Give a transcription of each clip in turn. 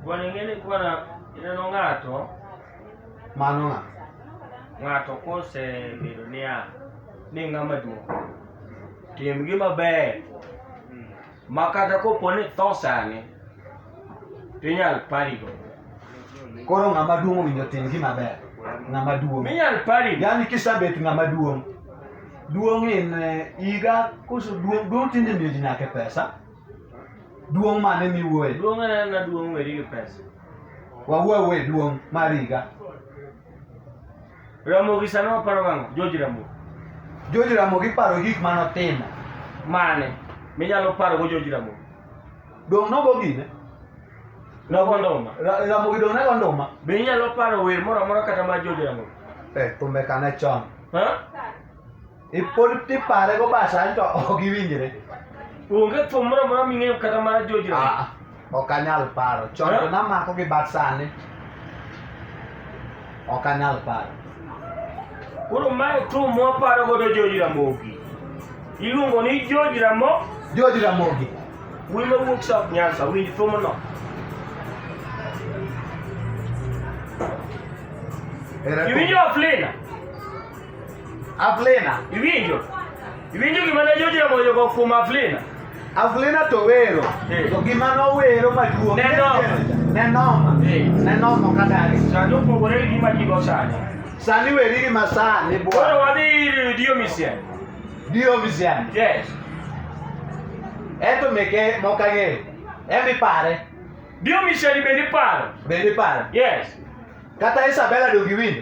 Bwana ingene kuwa na ineno ng'ato mano ng'a ng'ato kosebedo niya ni ng'ama duong' tim gi maber ma kata kopo ni tho sani to inyal parigo koro ng'ama duong' owinjo tim gi maber ng'ama duong' minyal parigo yani kisabet ng'ama duong' duong' in eh, iga koso duong' duong' tinde miyo ji nyake pesa Duong' mane miwuoye? Duong' en na duong' weri gi pesa. Wawuo awuo e duong' mar higa. Ramogi sani waparo gang'o? George Ramogi. George Ramogi iparo gik mane otimo. Mane? Minyalo paro go George Ramogi. Dong' nogo gine? Nogo nduma. Ra- Ramogi dong' nego nduma? Be inyalo paro wer moro amora kata mar George Ramogi? Eh, thumbe kane chon. Ha? Ipod tipare go basani to ok iwinjre. Onge thum moro amora ming'eyo kata mar jojirani. Ah, ok anyal paro. Chon to Eh? namako gi bat sani. Ok anyal paro. Koro mae thum mwaparo godo George Ramogi. Iluongo ni George Ramo, George Ramogi. wuoyi mawuok South Nyanza, winj thumno. Ere Iwinjo Aflina? Aflena iwinjo iwinjo gima ne George Ramogi ogo kuom Aflena Aflena to wero Eh. to gima nowero maduong' Ne noma. ne noma Eh. ne noma kadari sani opogore gi gima ji go sani sani weri gi masani koro bwana wadhi ir Dio Misian dio misiani yes ento meke mok ang'eyo en ipare Dio Misian bende iparo bende ipare yes kata Isabella donge iwinjo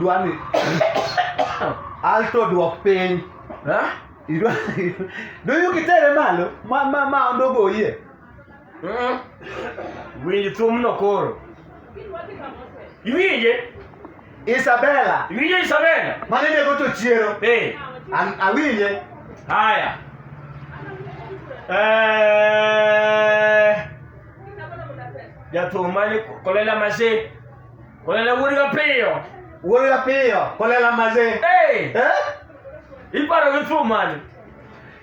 Dwani alto dwok piny. Idwa doyu kitere malo ma ma ma ondogoyie. Mm. Winj thumno koro. Iwinje? Isabella. Iwinje Isabella? Mane nego to chiero. Eh. An awinje. Haya. Eh. Jathum mane kolela masin. Kolela wuod ga piyo. Wuod ga piyo kolela masin. Hey. Eh? Iparo gi thum mane?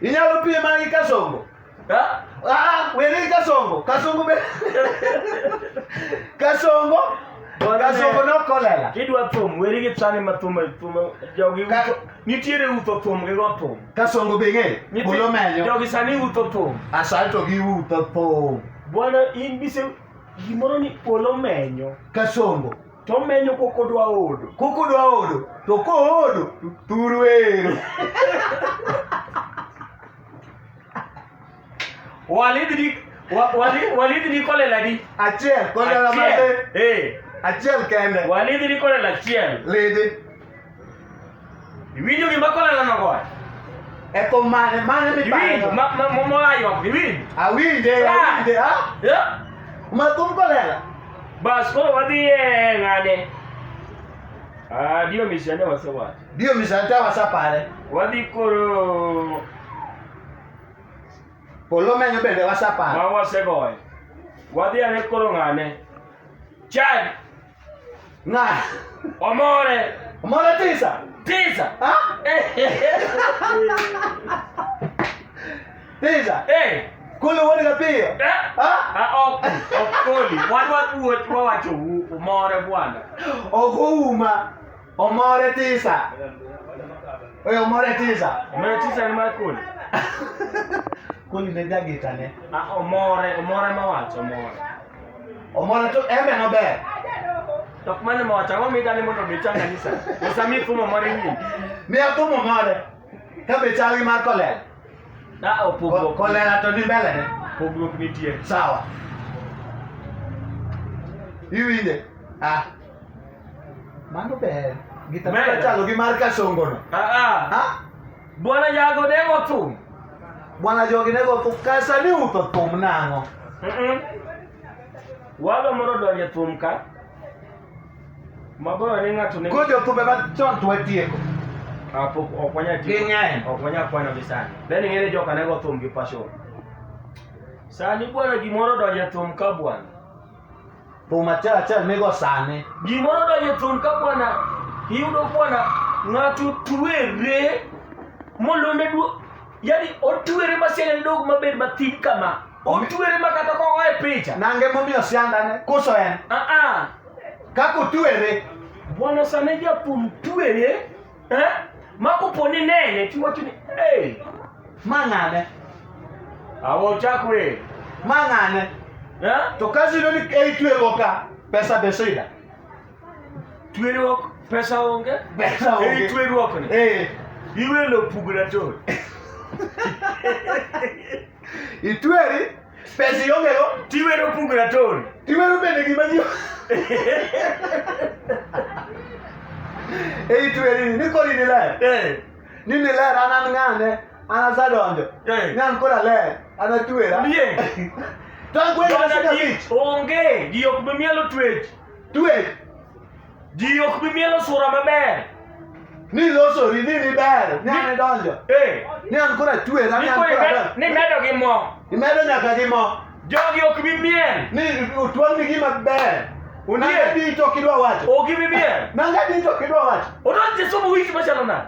Inyalo pie mana gi kasongo. Ha? Ah, ah weri kasongo. Kasongo be. kasongo. Kasongo no kolela. Kidwa thum, weri gi tsani ma thum, thum jogi. Nitiere utho thum gi go thum. Kasongo be ng'e? Nyithi- Bolo menyo. Jogi sani utho thum. Asal to giwuotho thum. Bwana in bise gimoro ni polo menyo. Kasongo. To omenyo kok odwa odo. Kok odwa odo. To koodo, thuru ero. Walid ni wa- Walid Walid ni kolela di. Achiel, kolela Achiel. mate. Eh. Achiel kende. Walid ni kolela achiel. Lidi. Iwinjo gima kolela no goyo. Eko mane, mane mi Iwinjo paro. ma ma ma moyaywa. Iwinjo. Awinje, Ah. awinje, ha? Yeah. Mathum kolela. Bas koro wadhi e ng'ane. Ah, dio misiane wasewacho. Dio misante wasapare. Wadhi koro Polo menyo bende wasaparo. Ma wasegoyo. Wadhi ane koro ng'ane. Chad. Ng'a. Omore. Omore tisa. Tisa. Ha? tisa. Eh. Kolo wuod ga piyo. Eh? Ha? Ha ok ok koli. Wan wadwuot wawacho omore bwana. Ok ouma. Omore tisa. Oye omore tisa. Omore tisa ni mar kuli. kuli ne jagita ne. Ah, omore, omore ma wacho omore. Omore to embe no ber. Tok mane ma wacho, ang'o midani mondo mi changa nisa? Osa mi fumo omore nyingi. Mi afumo omore. Ka be chal gi mar kolera. Da opogruok. Kolera to ni mbele ne. Pogruok nitie. Sawa. Iwinje. Ah. Mano ber. Gita Ber. chalo gi mar kasongo no. Ah, ah. Ha? Bwana jago demo thum. Bwana jogi ne go thum kasa ni utho thum nang'o. Mm-mm. Walo moro donje thum ka. Maboyo ni ng'ato ne. Ko jothumbe ma chon to watieko. Ah, pok ok wanya tiyo. Ging'eny. Ok wanya kwano gi sani. Then ing'ere joka ne go thum gi passion. Sani bwana gimoro donje thum ka bwana. Thum achiel achiel migo sani. Gimoro donjo thum ka bwana iyudo bwana ng'ato twere molone duo yani otwere ma siane dog mabed mathin kama otwere ma kata ka oa e picha Nange momiyo siandane koso en. aa Kako twere. bwana sane jathum twere Eh? Ma kopo ni nene tiwacho ni hey, Ma ng'ane? awa ochak wer. Ma ng'ane? Eh? To kazi yudo ni ei tweruok ka, pesa be sida. Tweruok pesa onge? Pesa Ei onge. tweruok ni. Eh. Iwelo pugna to. Itweri pesa iongego tiwero pug rator tiwero bende gima ji e itweri ni kori ni ler Eh, ni ni ler an an ng'ane an asadonjo Eh. ni an kora ler an atwera Ndiye. to an kweri Jona ji abich onge ji ok bi mielo twech twech Ji ok bi mielo sura maber. Ni losori ni ni ber, ni an idonjo. Eh, Ni an kora chwer, an ni an koro kora imedo, ber. ni medo gi mo. Imedo nyaka gi mo. Jogi ok bi miel. Ni utwang' ni gima ber. Ondiek. Nanga dito kidwa wacho. Ok bi miel. Nanga dito kidwa wacho. Odonj Jesu wich machalo nade?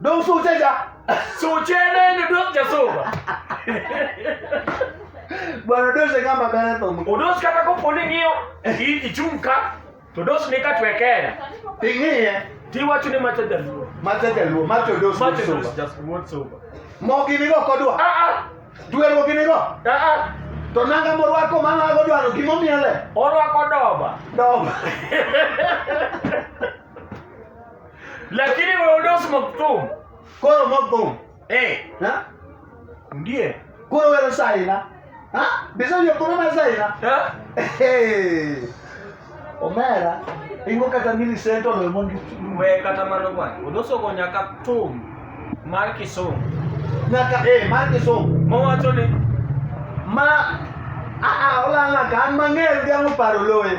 Don su ce ja. Su ce ne ni don ja so ba. Bwana Dosi kama bana tomo. Udos kata ko poni ng'iyo i- ichung' ka to dos ni ka twekera Tingiye tiwacho ni macho jaluo mate jaluo mate Dosi macho dos soba. just word sober Mo gini go kodwa. ah ah Duero gini go. ah ah To nanga morwako mana go dwaro gimo miele. orwako doba Doba. Lakini weodos moktum. Koro moktum. Eh. Ha? Ndiye. Koro wero saina. Ha? Bisa yo koro na saina. Ha? Eh. Omera. Ingo kata mili sento lo mondi. We kata mano bwana. Odoso go nyaka tum. Mar Kisumu. Nyaka eh mar Kisumu. Mowacho ni ma a a olala kan mang'eyo gi ang'o paro loye.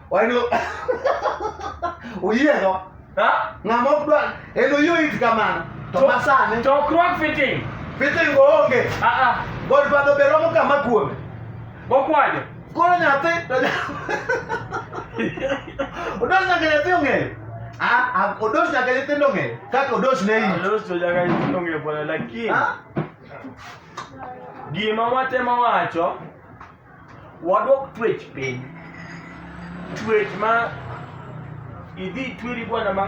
Wani uyiego? Ha? Ng'ama ok dwar en oyie it kamano. To masani to crock fitting. Fitting onge. Ah ah. God father be romo kama kuome. Bokwajo. Koro nyathi to Odos nyaka nyathi ong'eyo. Ah, ah odos nyaka nyithindo ong'eyo. Kaka odos ne iyi. Odos to nyaka nyithindo ong'eyo bwana lakini. Gima watemo wacho Wadwok twech piny. Twech ma idhi tweri bwana ma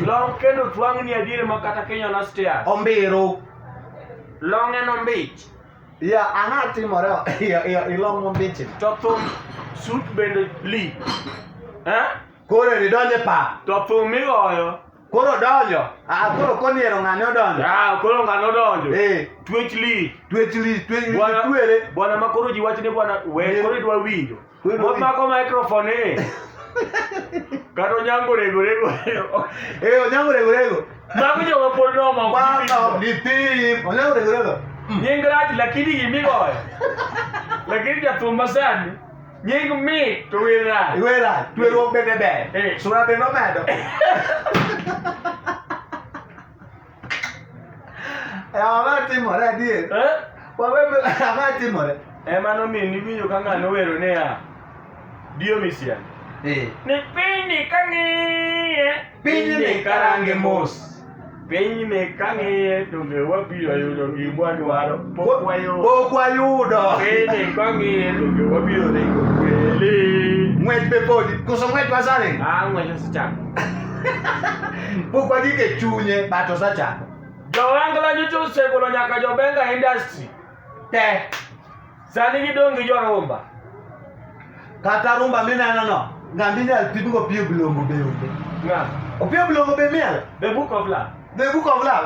long kendo twang'ni adiere ma kata Kenya na stairs. Ombiro. Long en ombich. Ya, ang'a timore ya, ya, ilong mombichi. To thum sut bende li. Eh? Koro ridonje pa. To thum migoyo. Koro donjo. Ah, koro koniero ng'ane odonjo. Ah, koro ng'ane odonjo. Eh. Twech li. Twech li, twech li, twere. Bwana ma koro ji wachne bwana, we eh. koro idwa winjo. Mot mako microphone eh. Kata onyango rego rego. Eh, onyango rego rego. Mako jo mapod no mako. Mako ni pim. Onyango rego rego. Nying rach lakini gimigoyo. Lakini jathum masani. Nying mit to wer rach. Wer rach, tweruok bende ber. Eh. Sura bende omedo. Eh, ang'o timore adier? Eh? Wawe ang'o timore? Ema nomiyo niwinjo ka ng'ano wero niya, Diomisian. Eh. Ni piny kang'iye, piny ni karange mos. pinyni kang'iye donge wabiro yudo gimwa dwaro pok wayudo pok wayudo pinyni kang'iye donge wabiro ringo kweli ng'wech be podi koso ng'wech wasani ah ng'wech osechako pok wagik e chunye but osechako jowangla nyicho osegolo nyaka jobenga industry te Sani gidong' gi jorumba. Kata rumba minenono, ng'ama inyal pimgo Opiyo Bilongo be onge. Ng'a? Opiyo Bilongo be miel? The Book of Love. The Book of Love.